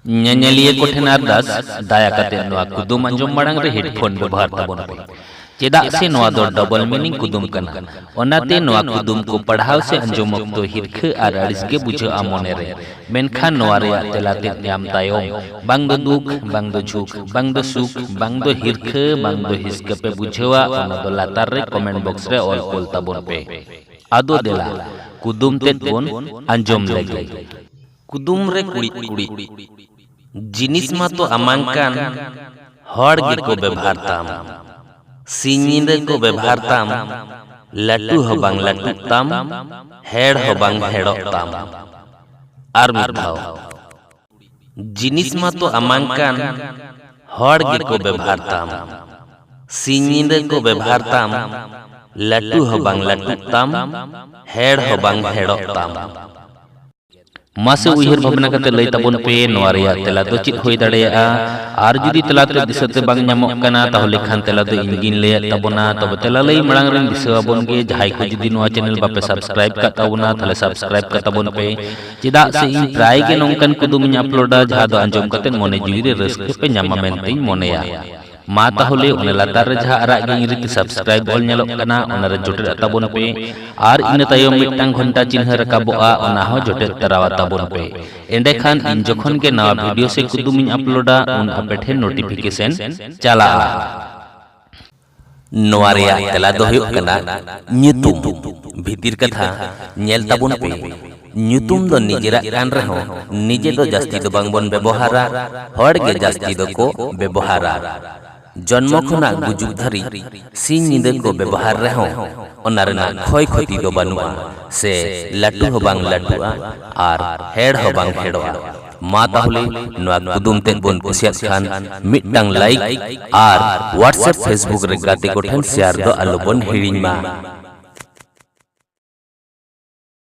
ᱧᱮᱧᱮᱞᱤᱭᱟᱹ ᱠᱚᱴᱷᱮᱱ ᱟᱨᱫᱟᱥ ᱫᱟᱭᱟ ᱠᱟᱛᱮ ᱱᱚᱣᱟ ᱠᱩᱫᱩᱢ ᱟᱸᱡᱚᱢ ᱢᱟᱲᱟᱝ ᱨᱮ ᱦᱮᱰᱯᱷᱳᱱ ᱵᱮᱵᱚᱦᱟᱨ ᱛᱟᱵᱚᱱ ᱯᱮ ᱪᱮᱫᱟᱜ ᱥᱮ ᱱᱚᱣᱟ ᱫᱚ ᱰᱚᱵᱚᱞ ᱢᱤᱱᱤᱝ ᱠᱩᱫᱩᱢ ᱠᱟᱱᱟ ᱚᱱᱟᱛᱮ ᱱᱚᱣᱟ ᱠᱩᱫᱩᱢ ᱠᱚ ᱯᱟᱲᱦᱟᱣ ᱥᱮ ᱟᱸᱡᱚᱢ ᱚᱠᱛᱚ ᱦᱤᱨᱠᱷᱟᱹ ᱟᱨ ᱟᱹᱲᱤᱥ ᱜᱮ ᱵᱩᱡᱷᱟᱹᱜᱼᱟ ᱢᱚᱱᱮ ᱨᱮ ᱢᱮᱱᱠᱷᱟᱱ ᱱᱚᱣᱟ ᱨᱮᱭᱟᱜ ᱛᱮᱞᱟ ᱛᱮᱫ ᱧᱟᱢ ᱛᱟᱭᱚᱢ ᱵᱟᱝ ᱫᱚ ᱫᱩᱠ ᱵᱟᱝ ᱫᱚ ᱡᱷᱩᱠ ᱵᱟᱝ ᱫᱚ ᱥᱩᱠ ᱵᱟᱝ ᱫᱚ ᱦᱤᱨᱠᱷᱟᱹ ᱵᱟᱝ ᱫᱚ ᱦᱤᱥᱠᱟᱹ ᱯᱮ ᱵᱩᱡᱷᱟᱹᱣᱟ ᱚᱱᱟ ᱫᱚ ᱞᱟᱛᱟᱨ ᱨᱮ ᱠᱚᱢᱮᱱᱴ ᱵᱚᱠᱥ ᱨᱮ ᱚᱞ ᱠᱳᱞ ᱛᱟᱵᱚᱱ ᱯᱮ ᱟᱫᱚ ᱫᱮᱞᱟ ᱠᱩᱫᱩᱢ ᱛᱮᱫ ᱵᱚᱱ ᱟᱸᱡᱚᱢ ᱞᱮᱜᱮ ᱠᱩᱫᱩᱢ ᱨᱮ ᱠᱩᱲᱤᱫ ᱠᱩᱲᱤᱫ ᱡᱤᱱᱤᱥ ᱢᱟᱛᱚ ᱟᱢᱟᱝ ᱠᱟᱱ ᱦᱚᱲ ᱜᱮᱠᱚ ᱵᱮᱵᱷᱟᱨ ᱛᱟᱢ ᱥᱤᱧ ᱧᱤᱫᱟᱹ ᱠᱚ ᱵᱮᱵᱷᱟᱨ ᱛᱟᱢ ᱞᱟᱹᱴᱩ ᱦᱚᱸ ᱵᱟᱝ ᱞᱟᱹᱴᱩᱜ ᱛᱟᱢ ᱦᱮᱲ ᱦᱚᱸ ᱵᱟᱝ ᱦᱮᱲᱚᱜ ᱛᱟᱢ ᱟᱨ ᱢᱤᱫ ᱫᱷᱟᱣ ᱡᱤᱱᱤᱥ ᱢᱟᱛᱚ ᱟᱢᱟᱝ ᱠᱟᱱ ᱦᱚᱲ ᱜᱮᱠᱚ ᱵᱮᱵᱷᱟᱨ ᱛᱟᱢ ᱥᱤᱧ ᱧᱤᱫᱟᱹ ᱠᱚ ᱵᱮᱵᱷᱟᱨ ᱛᱟᱢ ᱞᱟᱹᱴᱩ ᱦᱚᱸ ᱵᱟᱝ ᱞᱟᱹᱴᱩᱜ ᱛᱟᱢ ᱦᱮᱲ ᱦᱚᱸ ᱵᱟᱝ ᱦᱮᱲᱚᱜ ᱛᱟᱢ ᱢᱟᱥᱮ ᱩᱭᱦᱟᱹᱨ ᱵᱷᱟᱵᱽᱱᱟ ᱠᱟᱛᱮ ᱞᱟᱹᱭ ᱛᱟᱵᱚᱱ ᱯᱮ ᱱᱚᱣᱟ ᱨᱮᱭᱟᱜ ᱛᱮᱞᱟ ᱫᱚ ᱪᱮᱫ ᱦᱩᱭ ᱫᱟᱲᱮᱭᱟᱜᱼᱟ ᱟᱨ ᱡᱩᱫᱤ ᱛᱮᱞᱟ ᱛᱮ ᱫᱤᱥᱟᱹ ᱛᱮ ᱵᱟᱝ ᱧᱟᱢᱚᱜ ᱠᱟᱱᱟ ᱛᱟᱦᱚᱞᱮ ᱠᱷᱟᱱ ᱛᱮᱞᱟ ᱫᱚ ᱤᱧ ᱜᱤᱧ ᱞᱟᱹᱭᱟᱫ ᱛᱟᱵᱚᱱᱟ ᱛᱚᱵᱮ ᱛᱮᱞᱟ ᱞᱟᱹᱭ ᱢᱟᱲᱟᱝ ᱨᱮᱧ ᱫᱤᱥᱟᱹ ᱟᱵᱚᱱ ᱜᱮ ᱡᱟᱦᱟᱸᱭ ᱠᱚ ᱡᱩᱫᱤ ᱱᱚᱣᱟ ᱪᱮᱱᱮᱞ ᱵᱟᱯᱮ ᱥᱟᱵᱥᱠᱨᱟᱭᱤᱵ ᱠᱟᱜ ᱛᱟᱵᱚᱱᱟ ᱛᱟᱦᱚᱞᱮ ᱥᱟᱵᱥᱠᱨᱟᱭᱤᱵ ᱠᱟᱜ ᱛᱟᱵᱚᱱ ᱯᱮ ᱪᱮᱫᱟᱜ ᱥᱮ ᱤᱧ ᱯᱨᱟᱭ ᱜᱮ ᱱᱚᱝᱠᱟᱱ ᱠᱩᱫᱩᱢᱤᱧ ᱟᱯᱞᱳᱰᱟ ᱡᱟᱦᱟᱸ ᱫᱚ ᱟᱸᱡᱚᱢ ᱠᱟᱛᱮ ᱢᱚᱱᱮ ᱡᱤᱣᱤ ᱨᱮ ᱨᱟᱹᱥᱠᱟᱹ ᱯᱮ ᱧᱟᱢᱟ ᱢᱮᱱᱛᱮᱧ ᱢᱚᱱᱮᱭᱟ ᱢᱟ ᱛᱟᱦᱚᱞᱮ ᱚᱱᱟ ᱞᱟᱛᱟᱨ ᱨᱮ ᱡᱟᱦᱟᱸ ᱟᱨᱟᱜ ᱜᱮ ᱤᱝᱨᱮᱡᱤ ᱛᱮ ᱥᱟᱵᱥᱠᱨᱟᱭᱤᱵ ᱚᱞ ᱧᱮᱞᱚᱜ ᱠᱟᱱᱟ ᱚᱱᱟ ᱨᱮ ᱡᱚᱴᱮᱫ ᱛᱟᱵᱚᱱ ᱯᱮ ᱟᱨ ᱤᱱᱟᱹ ᱛᱟᱭᱚᱢ ᱢᱤᱫᱴᱟᱝ ᱜᱷᱚᱱᱴᱟ ᱪᱤᱱᱦᱟᱹ ᱨᱟᱠᱟᱵᱚᱜᱼᱟ ᱚᱱᱟ ᱦᱚᱸ ᱡᱚᱴᱮᱫ ᱛᱟᱨᱟᱣᱟ ᱛᱟᱵᱚᱱ ᱯᱮ ᱮᱸᱰᱮᱠᱷᱟᱱ ᱤᱧ ᱡᱚᱠᱷᱚᱱ ᱜᱮ ᱱᱟᱣᱟ ᱵᱷᱤᱰᱤᱭᱳ ᱥᱮ ᱠᱩᱫᱩᱢ ᱤᱧ ᱟᱯᱞᱳᱰᱟ ᱩᱱ ᱟᱯᱮ ᱴᱷᱮᱱ ᱱᱳᱴᱤᱯᱷᱤᱠᱮᱥᱚᱱ ᱪᱟᱞᱟᱜᱼᱟ ᱱᱚᱣᱟ ᱨᱮᱭᱟᱜ ᱛᱮᱞᱟ ᱫᱚ ᱦᱩᱭᱩᱜ ᱠᱟᱱᱟ ᱧᱩᱛᱩᱢ ᱵᱷᱤᱛᱤᱨ ᱠᱟᱛᱷᱟ ᱧᱮᱞ ᱛᱟᱵᱚᱱ ᱯᱮ ᱧᱩᱛᱩᱢ ᱫᱚ ᱱᱤᱡᱮᱨᱟᱜ ᱠᱟᱱ ᱨᱮᱦᱚᱸ ᱱᱤᱡᱮ ᱫᱚ ᱡᱟᱹᱥᱛᱤ ᱫᱚ ᱵᱟᱝ ᱵᱚᱱ ᱵᱮᱵᱚᱦᱟᱨᱟ ᱦᱚᱲ ᱜᱮ ᱡᱟᱹᱥᱛᱤ ᱫᱚ ᱠᱚ ᱵᱮᱵᱚᱦᱟᱨᱟ ᱡᱚᱱᱢᱚ ᱠᱷᱚᱱᱟᱜ ᱜᱩᱡᱩᱜ ᱫᱷᱟᱹᱨᱤᱡ ᱥᱤᱧ ᱧᱤᱫᱟᱹ ᱠᱚ ᱵᱮᱵᱚᱦᱟᱨ ᱨᱮᱦᱚᱸ ᱚᱱᱟ ᱨᱮᱱᱟᱜ ᱠᱷᱚᱭ ᱠᱷᱚᱛᱤ ᱫᱚ ᱵᱟᱹᱱᱩᱜᱼᱟ ᱥᱮ ᱞᱟᱹᱴᱩ ᱦᱚᱸ ᱵᱟᱝ ᱞᱟᱹᱴᱩᱜᱼᱟ ᱟᱨ ᱦᱮᱲ ᱦᱚᱸ ᱵᱟᱝ ᱦᱮᱲᱚᱜᱼᱟ ᱢᱟ ᱛᱟᱦᱚᱞᱮ ᱱᱚᱣᱟ ᱠᱩᱫᱩᱢ ᱛᱮᱫ ᱵᱚᱱ ᱠᱩᱥᱤᱭᱟᱜ ᱠᱷᱟᱱ ᱢᱤᱫᱴᱟᱝ ᱞᱟᱭᱤᱠ ᱟᱨ ᱦᱳᱣᱟᱴᱥᱮᱯ ᱯᱷᱮᱥᱵᱩᱠ ᱨᱮ ᱜᱟᱛᱮ ᱠᱚᱴᱷᱮᱱ ᱥᱮᱭᱟᱨ ᱫᱚ ᱟᱞᱚ ᱵᱚᱱ ᱦᱤᱲᱤᱧ ᱢᱟ